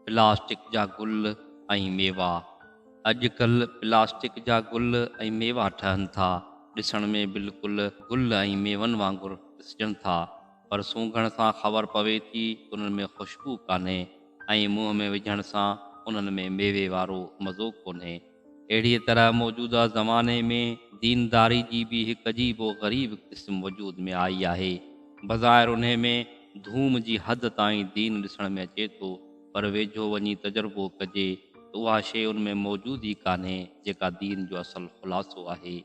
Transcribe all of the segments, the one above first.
Plastic جا گل ۽ ميوا، اڄ ڪلهه پلاسٽڪ جا گل ۽ ميوا ٺهن ٿا، ڏسڻ ۾ بلڪل گل ۽ ميون وانگر ڏسجن ٿا، پر سونگهڻ سان خبر پوي ٿي ته انهن ۾ خوشبو ڪانهي ۽ منهن ۾ وجهڻ سان انهن ۾ ميوي وارو مزو ڪونهي. اهڙيء طرح موجوده زماني ۾ دينداري جي به هڪ عجيب و غريب قسم وجود ۾ آئي آهي. بظاهر انهي ۾ ڌوم جي حد تائين دين ڏسڻ ۾ اچي ٿو، پر ويجهو وڃي تجربو ڪجي ته اها شيء ان ۾ موجود ئي ڪانهي، جيڪا دين جو اصل خلاصو آهي.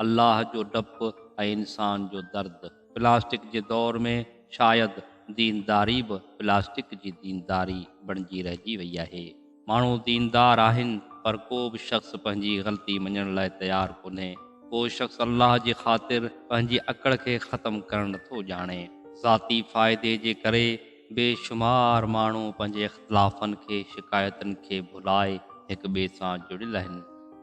الله جو ڊپ ۽ انسان جو درد. پلاسٽڪ جي دور ۾ شايد دينداري به پلاسٽڪ جي دينداري بڻجي رهجي وئي آهي. ماڻهو ديندار آهن پر ڪو به شخص پنهنجي غلطي مڃڻ لاء تيار ڪونهي. ڪو شخص الله جي خاطر پنهنجي اڪڙ کي ختم ڪرڻ نٿو ڄاڻي. ذاتي فائدي جي ڪري بي شمار ماڻهو پنهنجي اختلافن کي شڪايتن کي ڀلائي هڪ ٻئي سان جڙيل آهن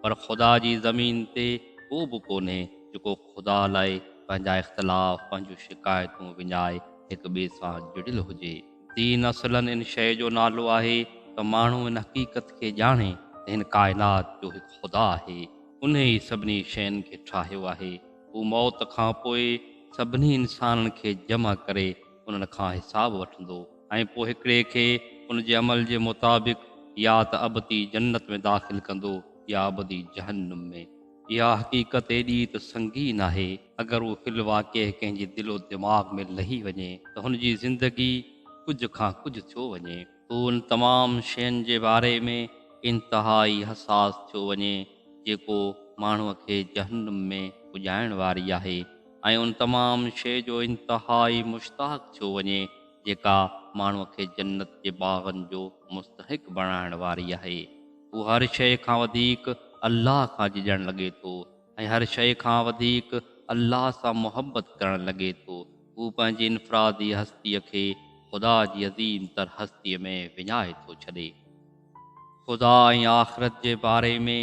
پر خدا جي زمين تي ڪو به ڪونهي جيڪو خدا لاء پنهنجا اختلاف پنهنجون شڪايتون وڃائي هڪ ٻئي سان جڙيل هجي. دين اصلا ان شيء جو نالو آهي ته ماڻهو ان حقيقت کي ڄاڻي ته هن ڪائنات جو هڪ خدا آهي انهي ئي سڀني شين کي ٺاهيو آهي هو موت کان پوء سڀني انسانن کي جمع ڪري انهن کان حساب وٺندو ۽ پوء هڪڙي کي ان جي عمل جي مطابق يا ته ابدي جنت ۾ داخل ڪندو يا ابدي جهنم ۾. اها حقيقت ايڏي ته سنگين آهي، اگر اهو في الواقع ڪنهن جي دل و دماغ ۾ لهي وڃي ته هن جي زندگي ڪجهه کان ڪجهه ٿيو وڃي. هو ان تمام شين جي باري ۾ انتهائي حساس ٿيو وڃي، جيڪو ماڻهوء کي جهنم ۾ پڄائڻ واري آهي. ۽ ان تمام شيء جو انتهائي مشتاق ٿيو وڃي جيڪا ماڻهوء کي جنت جي باغن جو مستحق بڻائڻ واري آهي. هو هر شيء کان وڌيڪ الله کان جهڄڻ لڳي ٿو ۽ هر شيء کان وڌيڪ الله سان محبت ڪرڻ لڳي ٿو. هو پنهنجي انفرادي هستيء کي خدا جي عظيم تر هستيء ۾ وڃائي ٿو ڇڏي. خدا ۽ آخرت جي باري ۾.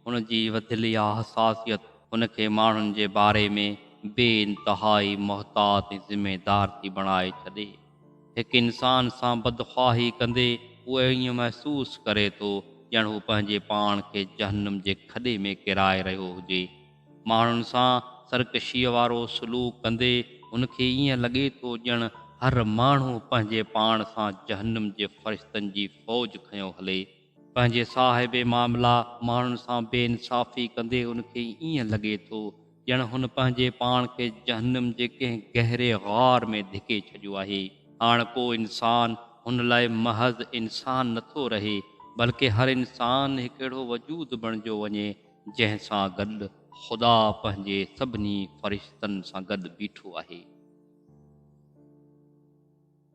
هن جي وڌيل اها حساسيت هن کي ماڻهن جي باري ۾ بي انتهائي محتاط ۽ ذميدار ٿي بڻائي ڇڏي. هڪ انسان سان بدخواهي ڪندي هو ائين محسوس ڪري ٿو ڄڻ هو پنهنجي پاڻ کي جهنم جي کڏي ۾ ڪيرائي رهيو هجي. ماڻهن سان سرڪشيء وارو سلوڪ ڪندي هن کي ائين لڳي ٿو ڄڻ هر ماڻهو پنهنجي پاڻ سان جهنم جي فرشتن جي فوج کنيو هلي. پنهنجي صاحب معاملا ماڻهن سان بي انصافي ڪندي هن کي ائين لڳي ٿو ڄڻ هن پنهنجي پاڻ کي جهنم جي ڪنهن گهري غار ۾ ڌڪي ڇڏيو آهي. هاڻ ڪو انسان هن لاء محض انسان نه ٿو رهي بلڪه هر انسان هڪ اهڙو وجود بڻجيو وڃي جنهن سان گڏ خدا پنهنجي سڀني فرشتن سان گڏ بيٺو آهي.